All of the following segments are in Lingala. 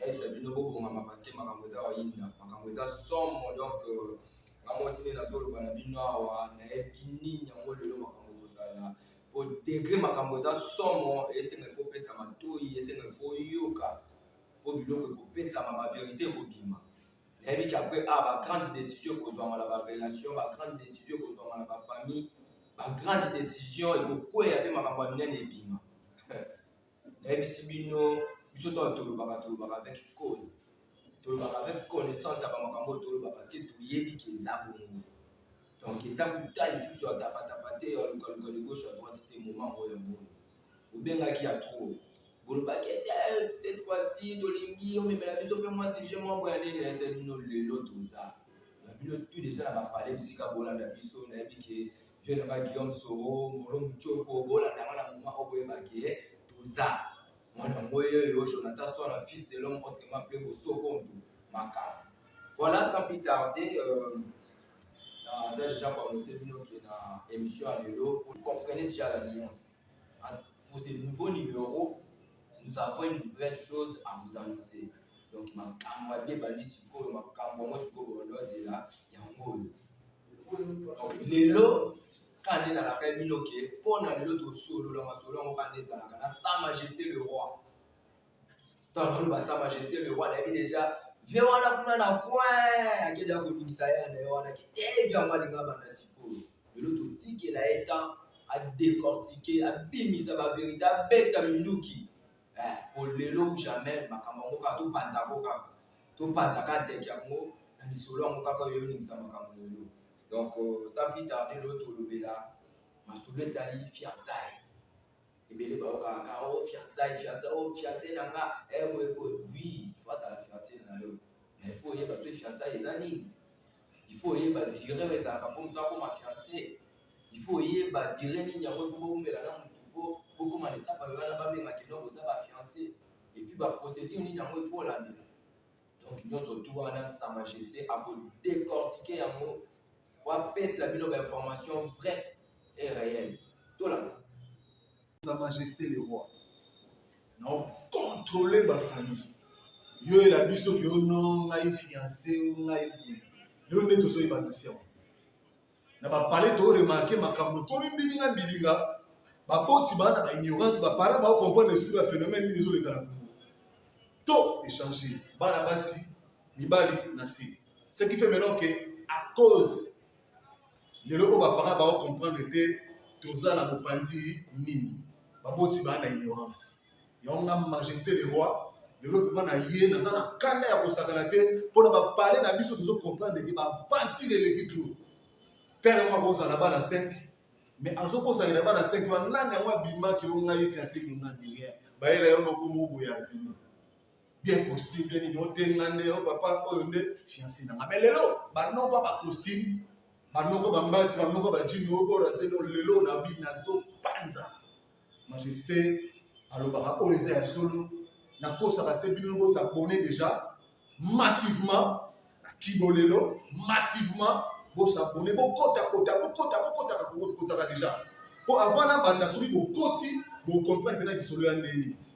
Laisse bino bo bongama parce que makambo eza oyinda makambo eza somo donc euh, nga moko tinde nazoloba na bino awa nayebi nini yango lelo makambo ekozala po degre makambo eza somo esenga ifo pesa matoi esenga ifo yoka po biloko ekopesama baverité ekobima nayebi ke apres a ah, bagrande décision ekozwama na barelation bagrande décision ekozwama na bafamille bagrande décision ekokweya mpe makambo ya minene ebima nayebisi bino biso ntango tolobaka tolobaka avec cause tolobaka avec connaissance ya bamakambo oyo toloba parce que toyebi ke eza bongo donc eza kuta lisusu ya tapatapa te ya lukaluka ligauche ya droite te moment oyo ya bongo obengaki ya trop bolobaki ete eh, cette fois-ci tolingi omemela biso mpe mwa sujet moko ya nini eza bino lelo toza na bino tu deja na bapale bisika bolanda biso nayebi ke vieux na ba Guillaume Soro Moro Muchoko bolanda nga na moment oyo boyeba ke toza mwana ngoye oyo Jonathan Swana fils de l'homme autrement appelé Bosokontu makambo voilà sans plus tarder euh, naza déjà koannonce bino ke na émission ya lelo vous comprenez déjà la nuance pour ce nouveau numéro nous avons une nouvelle chose à vous annoncer donc makambo alie ebandi sikoyo makambo yango sikoyo bondo azela yango oyo lelo kande nalaka bino ke mpo na lelo tosolola masolo yango kande ezalaka na sa majesté le roi toloba sa majesté le roi nayebi deja vie wana kuna na coin akende akobimisa ye na ye wana kitebi yango alinga banda sikoyo lelo totikela ye temps adecortike abimisa baverité abeta minduki eh, po lelo ou jamais makambo yango kaka topanza yango kaka topanza kaka ndeke yango na lisolo yango kaka oyo oningisa makambo lelo donc euh, sans plus tarder lelo tolobela masolo etali fiançaille ebele bayokaka kaka o oh, fiançaille fiançaille o oh, fiancé na nga eh, boye boye oui fo azala fiancé na yo mais fo oyeba soki fiançaille eza nini il faut oyeba dire oyo ezalaka mpo moto akoma fiance il faut oyeba dire nini yango ifo bowumela na motu mpo bokoma na etapa yo wana babenga kino boza ba fiance epuis baprocédure nini yango ifo olandela donc nyonso tu wana sa majesté akodecortike yango po apesa bino bainformation vrai et réel tolanda Sa Majesté le Roi, na contrôler ba famille yo ela biso ke yo no ngai fiancé yo ngai boye lelo nde tozoyeba dossier yango na bapale to remarke makambo ekomi mbilinga mbilinga baboti bana ba ignorance bapara bao comprendre esuki ba phénomène nini ezoleka na kongo to échange bana basi mibali na se ce qui fait maintenant que à cause lelo oyo baparent bao comprendre te toza na mopanzi nini baboti baa na ignorance yango nga majesté le roi lelo vrema na ye naza na kanda ya kosakana te mpo na bapale na biso tozo comprendre te bavantire eleki tour père yango akozala bana 5 mais azokosalela bana 5 wana nani yango abimaki yo ngai fianse kinga nilien bayela yo nokomo boya vino bien costume bien nini otenga nde o oh, papa oyo nde fiancé na nga mais lelo banoko ba costume banoko bambati banoko bajini oyo oyo nazeli lelo na bi nazopanza majesté alobaka oyo eza ya solo nakosaka te bino boza abonne déjà massivement na kibo lelo massivement bosabone bokotakota bokota bokotaka kokotaka déjà mpo avant nabanda soki bokoti bokomprene mpena lisolo ya ndenge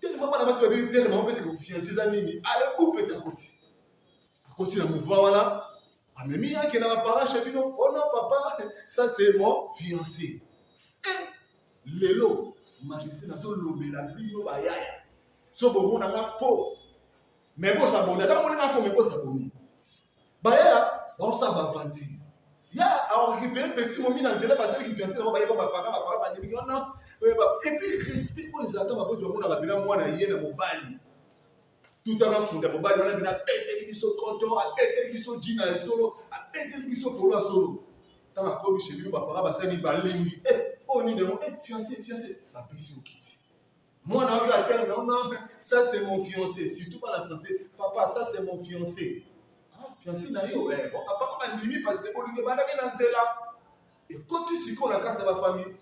tellement bana basi babebi tere bango mpete kofianse eza nini ale groupe eza koti akoti na mouvement wana amemi yake na baparent chez bino ono oh papa ça c'est mon fiancé eh, lelo majesté nazolobela bino bayaya so bomona nga faux mais bo s'abonner ata moni info mais bo s'abonner bayaya baosala bavanti ya aokipe petit momi na nzela basali kifianse nango bayeba bapaka bapaka bandimi wana epuis respect oyo ezalaka baboti bamonaka bina mwana ye na mobali tutaka funda mobali wana bina abeteli biso koto abeteli biso jina ya solo abeteli biso polo ya solo ntango akomi chez bino bapaka basali balingi eh, oyo nini yango eh, fianse fianse bapesi okiti Mwana oyo atanga na ona ça c'est mon fiancé surtout bana français papa ça c'est mon fiancé ah fiancé na yo eh bon papa kaka ndimi parce que bolingo ebandaki na nzela ekoti sikoyo na kati ya bafamille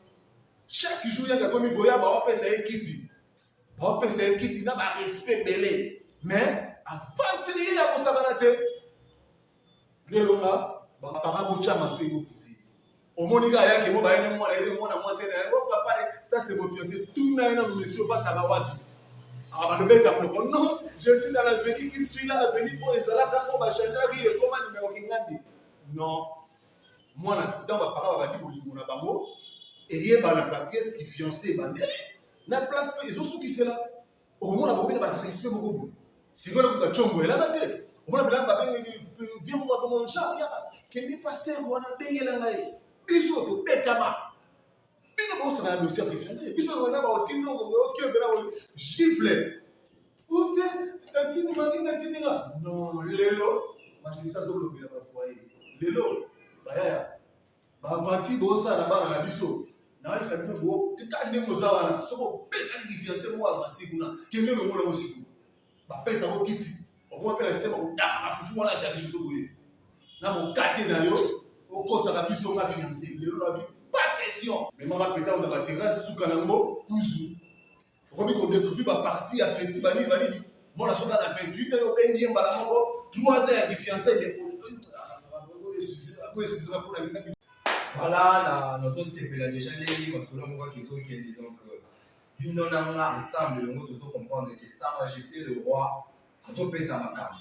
chaque jour yanga komi goya baopesa ye kiti baopesa ye kiti na barespect ebele mais afandiseli ye ya kosakana te lelo nga bapanga botya mato ekokipe omoni kaka yake mo bayene mwana yene mwana mwasi ena yango oh, papa ça c'est mon fiancé tuna ye nanu monsieur ofataka wapi abalobeta ah, ploko non je suis dans l'avenir qui suis là avenir oyo ezalaka oyo bachangeaki ekoma nimero kingandi non mwana ntango bapanga babandi bolingo na bango eyebanaka pièce ki fiancé ebandeli na place mpe ezosukisela okomona bakomi na ba respect moko boye sikoyo na kuta chombo elaka te omona bilanga babengeli vie moko to mon genre yaka kende pa ser wana bengela ngai biso tobetama bino bosana ya dossier ya preference biso wana baotindo okebela oyo gifle ute tatini maki tatini nga non lelo magistrat azolobela bavoye lelo bayaya bavanti bosala na bana na biso nayebisa bino bo teka ndenge oza wana soki opesaki difiance moko avanti kuna kende lomona ngo sikoyo bapesa ngo kiti okoma mpe na sema kodaka na fufu wana chaque jour soki oyebi na mokate na yo okosaka biso nga fiance lelo na bi pas question mema bapesa ngo na baterase suka na ngo kuzu okomi ko découvrir ba partie ya petit bani bani mona soka na 28 ans obendi ye mbala moko 3 ans ya defiance ndeko koesizaka mpona bina voilà na nazosepela déjà ndenge masolo moko ake ezokende donc euh, bino na nga ensemble elongo tozo comprendre que sa majesté le roi azopesa makambo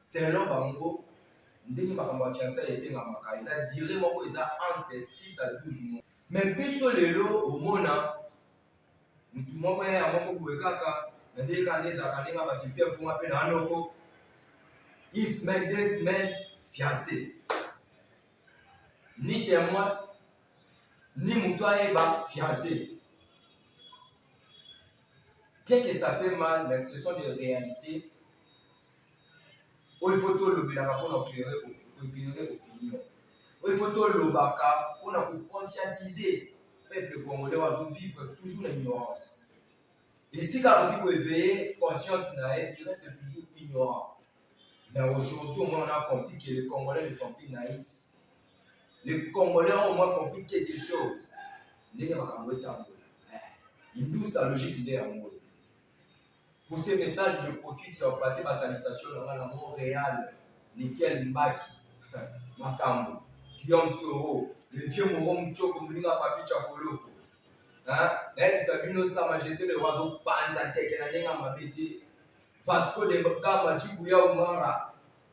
Selon bango, ndenge makambo ya fiançailles esengamaka eza duree moko eza entre 6 à 12 mois. Mais biso lelo omona mutu moko ya ya moko boye kaka na ndenge kaka nde ezalaka ndenge ya ba système mpo nga mpe na noko une semaine deux semaines fiancé ni témoin ni moto ayeba fiancé Bien que ça fait mal, mais ce sont des réalités. Oyo faut tolobelaka mpona koeklere opinion. Oyo faut tolobaka mpona koconscientiser peuple congolais wazo vivre toujours na ignorance. Esika akoki koeveille conscience na ye, il reste toujours ignorant. Mais aujourd'hui, au moins, on a compris que les Congolais ne sont plus naïfs. Les Congolais ont au moins compris quelque chose. Ndenge makambo etambola. Hindou sa logique nde yango. Pour ces messages, je profite ya passer ma salutation na nga na Montréal, Nickel Mbaki, makambo, Guillaume Soro, le vieux Moro Mutshoko, moninga Papi Chakoloko. Hein? Nayebisa bino sa majesté le roi azopanza teke na ndenge ya mabe te. Vasco de Gama, Chibuya Umara,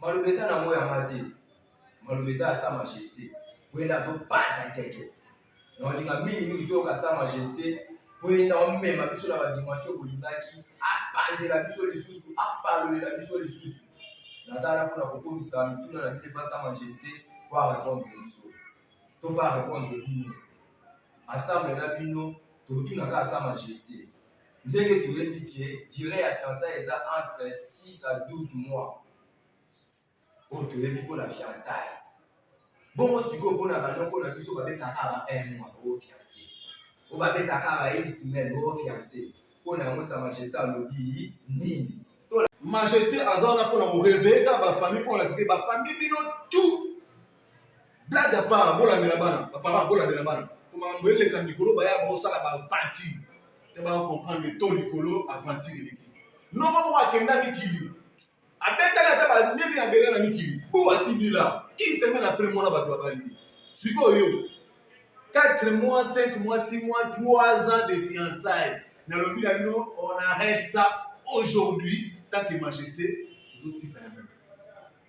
Maloba eza na ngo ya mate. Maloba eza ya sa majeste. Wenda zo panza keke. Na olinga mingi mingi toyoka sa majeste. Wenda omema biso na ba dimension bolingaki. Apanzela biso lisusu, apalolela biso lisusu. Naza na pona kokomisa mituna na bino epa sa majeste po a répondre biso. To ba répondre bino. Ensemble na bino tokotuna kaka sa majeste. ndenge toyebi ke dire ya fiançaille eza entre 6 à 12 mois oyo toyebi mpo na fiançaille bongo sikoyo mpo na banoko na biso babetaka ba un mois o oh, fiance o oh, babetaka ba une semaine o oh, fiance mpo na yango sa majesté alobi nini majesté aza wana mpo na koreveka bafamille mpo na sike bafamille bino tout blague à part bolandela bana baparent bolandela bana po makambo eleka mikolo baya baosala baaventure te bakomprendre to likolo aventure eleki noko moko akenda mikili abetali ata bamemi ya bela na mikili po atindila une semaine après mwana bato babali sikoyo 4 mois 5 mois 6 mois 3 ans de fiançailles nalobi na bino on arrête ça aujourd'hui tant que majesté ezotika yango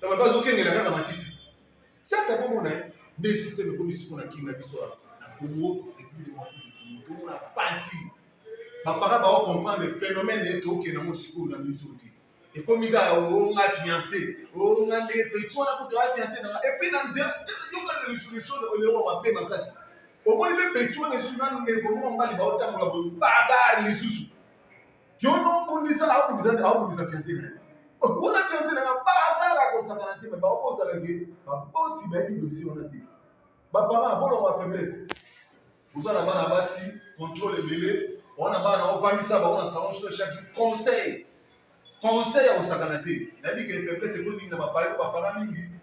na bato bazokengela kaka matiti caka bomona ye nde systeme ekomi siko na kini na biso na congo republique democratique du congo tomona pati bapaka bao comprendre phénomène ete tokende yango sikoyo na minso te ekomi kaka onga fiancé onga nde petit wana kutu ya fiancé nanga epuis na nzela yoka lechode olewa mabe makasi omoni mpe petit wana esu nanu ndeko moko mobali baotambola boye bagarre lisusu yo nokundisa akundisa akundisa fianse na ye okuna fianse na nga baatala kosakana te me bakozala ke baboti bayebi dosi wana te bapara bolongo ya faiblesse oza na bana basi contrôle ebele wana bana ovandisa bango na salon jour chaque jour conseil conseil ya kosakana te nayebi ke faiblesse ekomi mingi na bapare bapara mingi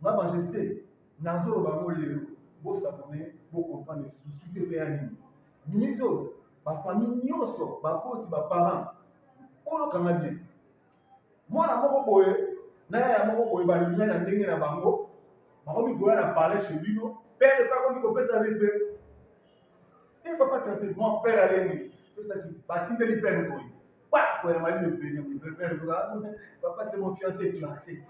Ma majeste, nazoloba yango lelo, bo s'abonner, bo comprendre lisusu suite epeya nini. Minutes oyo, ba famille nyonso, baboti, ba parents, oyo kanga bien. Mwana moko boye, na yaya moko boye, balinga na ndenge na bango, bakomi koya na palais chez bino, père epa akomi kopesa respect. Et papa Tracé, mon père alengi, pesaki, batindeli père boye. Pako ya mali le premier mon père papa c'est mon fiancé tu acceptes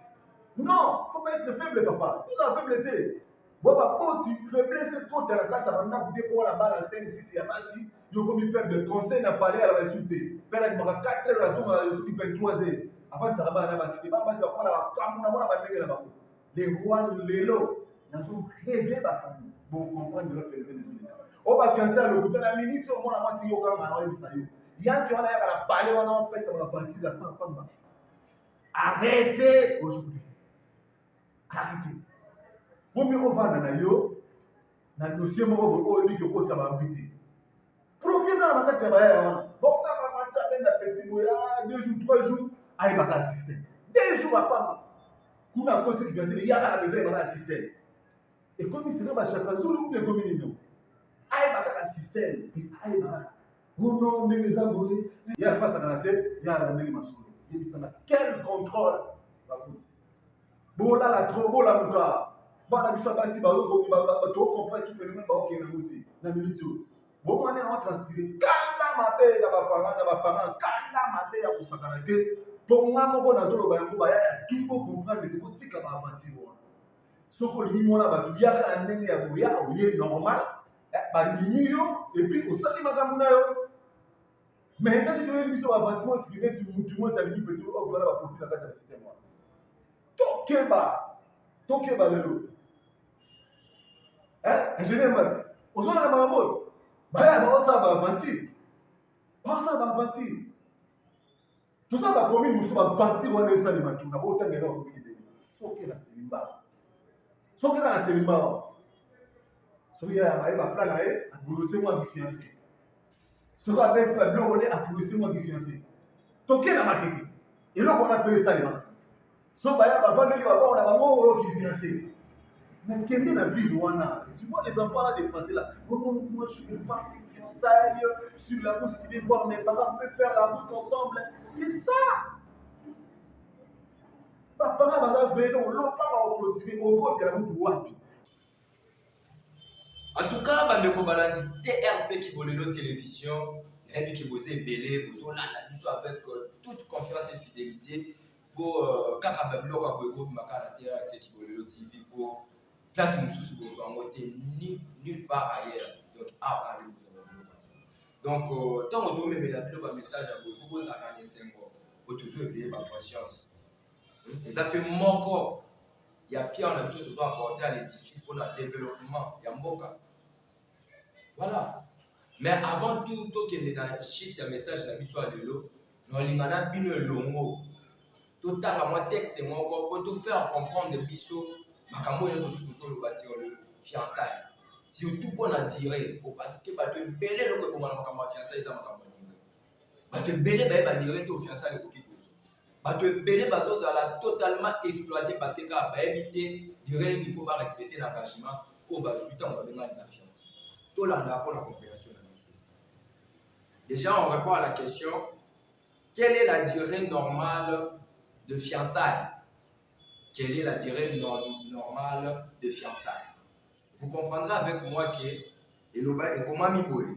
non faut pas être faible papa tout la faible te bo ba poti faiblesse ko tala kata banda ko te ko la bala 5 6 ya basi yo ko mi faible conseil na parler à la basi te père ni maka 4 heures la zone la zone 23 heures avant de travailler na basi ba basi ba ko la kamuna mona ba ndenge na bango le roi lelo nazo reve bakambo bokomprendre lelo phénomène ezoleka o bafianse ya lokuta na miniti oyo mwana mwasi yo kaka na oyebisa yo yanke wana yaka na pale wana opesa na baparti ya pamba arrete aujourd'hui arrete komi ovanda na yo na dossier moko boye oyo biki okotisa bambi te Profi eza na makasi ya bayaya wana. Boksa ba match à peine petit boya ah, deux jours trois jours ayi baka assister. Deux jours apama. Kuna à cause du Brésil yaka na besoin baka assister. Et comme il sera ba chaka zulu ou bien comme il est. Ayi baka assister. Ayi baka. Bono ndenge eza boye. Ya pasa na te, ya la ndenge masolo. Yebisa na quel contrôle bakuti. bolala trop bolamuka bana biso basi baokompre ki phénomène baokende yango te na miniti oyo bomwana yango transpire kanda mabe na bapara na bapara kanda mabe ya kosakana te mpo nga moko nazoloba yango baya ya tout bocomprendre te botika baaventure wana soki olingi mwana bato yaka na ndenge ya boya oye normal eh, bandimi yo epuis osali makambo na yo Mais eza te toyebi biso ba bâtiment tiki neti mutu moko alingi petit oyo kozala ba profil na kati ya système wana. Tokeba, tokeba lelo. Hein? Ingénieur Mbaye, ozona na makambo oyo. Baya baosala ba aventure. Baosala ba aventure. Toza ba commune mosusu ba aventure wana esalema tu na otanga na commune de soki na Selimba. Soki na Selimba. Soki ya maye ba plan na ye, bolose mwa fiancé. soki abeti ba biloko nde apulisi mwa kifianse toke na matete eloko wana mpe esalema so baya bavandeli babao na bango oyo kifianse nakende na ville wana tu vois les enfants là des français là oh non moi je veux pas ces fiançailles sur la route qui vient voir mes parents on peut faire la route ensemble c'est ça bapara baza veno lopaka oklotire okotela mutu wapi En tout cas, bandeko balandi TRC Kibolelo Télévision, nayebi ke boza ebele bozolanda biso avec euh, toute confiance et fidélité mpo euh, kaka babiloko ya boye ekobima kaka na TRC Kibolelo TV mpo place mosusu bozwa yango te ni nulle part ailleurs donc awa kaka nde bozwa babiloko donc euh, ntango tomemela bino bamessage ya boye fo bozalaka na esengo mpo tozo ebeye baconscience eza mpe moko ya pierre na biso tozo apporter à l'édifice pour la développement ya mboka voilà mais avant tout tokende na shit ya message na biso ya lelo na olinga na bino elongo totanga mwa texte moko po to faire comprendre biso makambo oyo nyonso tozoloba sur le fiançaille surtout mpo na dire parce que bato ebele eloko ebonga na makambo ya fiançaille eza makambo bato ebele baye bandimaki te ofiansale ekoki kozwa bato ebele bazozala totalement exploité parce que kaka bayebi te durée nini faut barespecte na engagement oyo bazwi ntango babengani na fianse tolanda mpo na comprehension na biso déjà on répond à la question quelle est la durée normale de fiançailles quelle est la durée normale de fiançailles vous comprendrez avec moi que eloba ekomami boye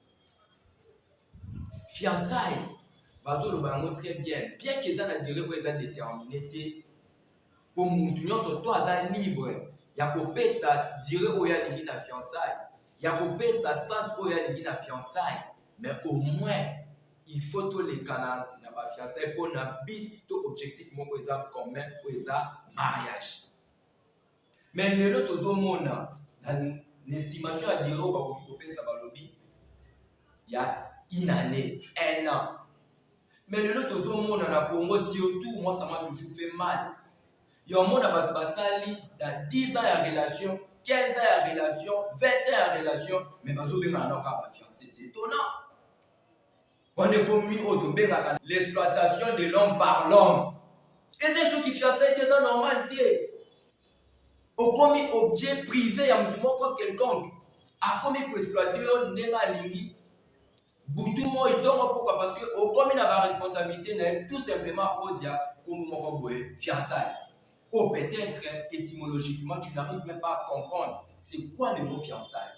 fiançaille bazoloba yango très bien bien ke eza na durée oyo eza déterminé te mpo motu nyonso to aza libre ya kopesa durée oyo alingi na fiançaille ya kopesa sens oyo alingi na fiançaille mais au moins il faut tolekana na bafiançaille mpo na but to objectif moko eza commun oyo eza mariage Mais lelo tozo mona na estimation ya durée oyo bakoki kopesa balobi ya une année, un an. Mais lelo tozo mona na Congo surtout moi ça m'a toujours fait mal. Ya omona bato basali na 10 ans ya relation, 15 ans ya relation, 20 ans ya relation mais bazo bengana nao kaka ba fiancés. C'est étonnant. Wana ekomi oyo tobengaka l'exploitation de l'homme par l'homme. Eza soki fiançailles te eza normal te. Okomi objet privé ya moto moko quelconque. Akomi koexploite yo ndenge alingi butu moi ntongo pourquoi parce que okomi na baresponsabilité na ye tout simplement à cause ya nkombo moko boye fiançailles ou oh, peut-être étymologiquement tu n'arrives même pas à comprendre c'est quoi le mot fiançailles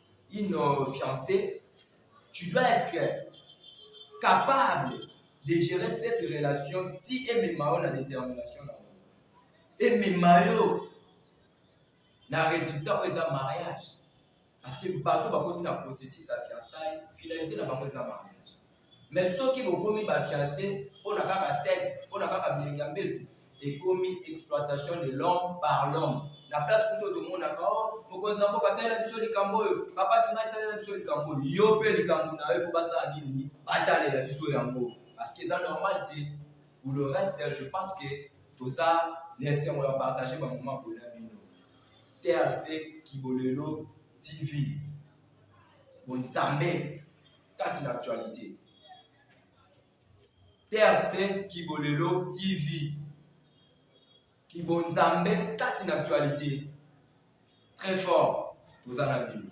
une euh, fiancée, tu dois être capable de gérer cette relation ti emema yo na détermination na bango emema yo na résultat oyo eza mariage parce que bato bakoti na processus ya fiançaille finalité na bango eza mariage Mais soki bokomi ba fiancé pona kaka sexe, pona kaka bilengi ya mbetu, ekomi exploitation de l'homme par l'homme. Na place kutu oyo tomonaka oh mokonzi ya mboka talela biso likambo oyo, papa Kimai talela biso likambo oyo. Yo pe likambo na yo il faut basala nini? Batalela biso yango parce que eza normal te. Pour le reste, je pense que toza na esengo ya partager ba moment boye na bino. TRC Kibolelo TV. Bonzambe. kati na actualite. TRC Kibolelo TV Kibonzambe kati na actualite. Très fort, toza na bino.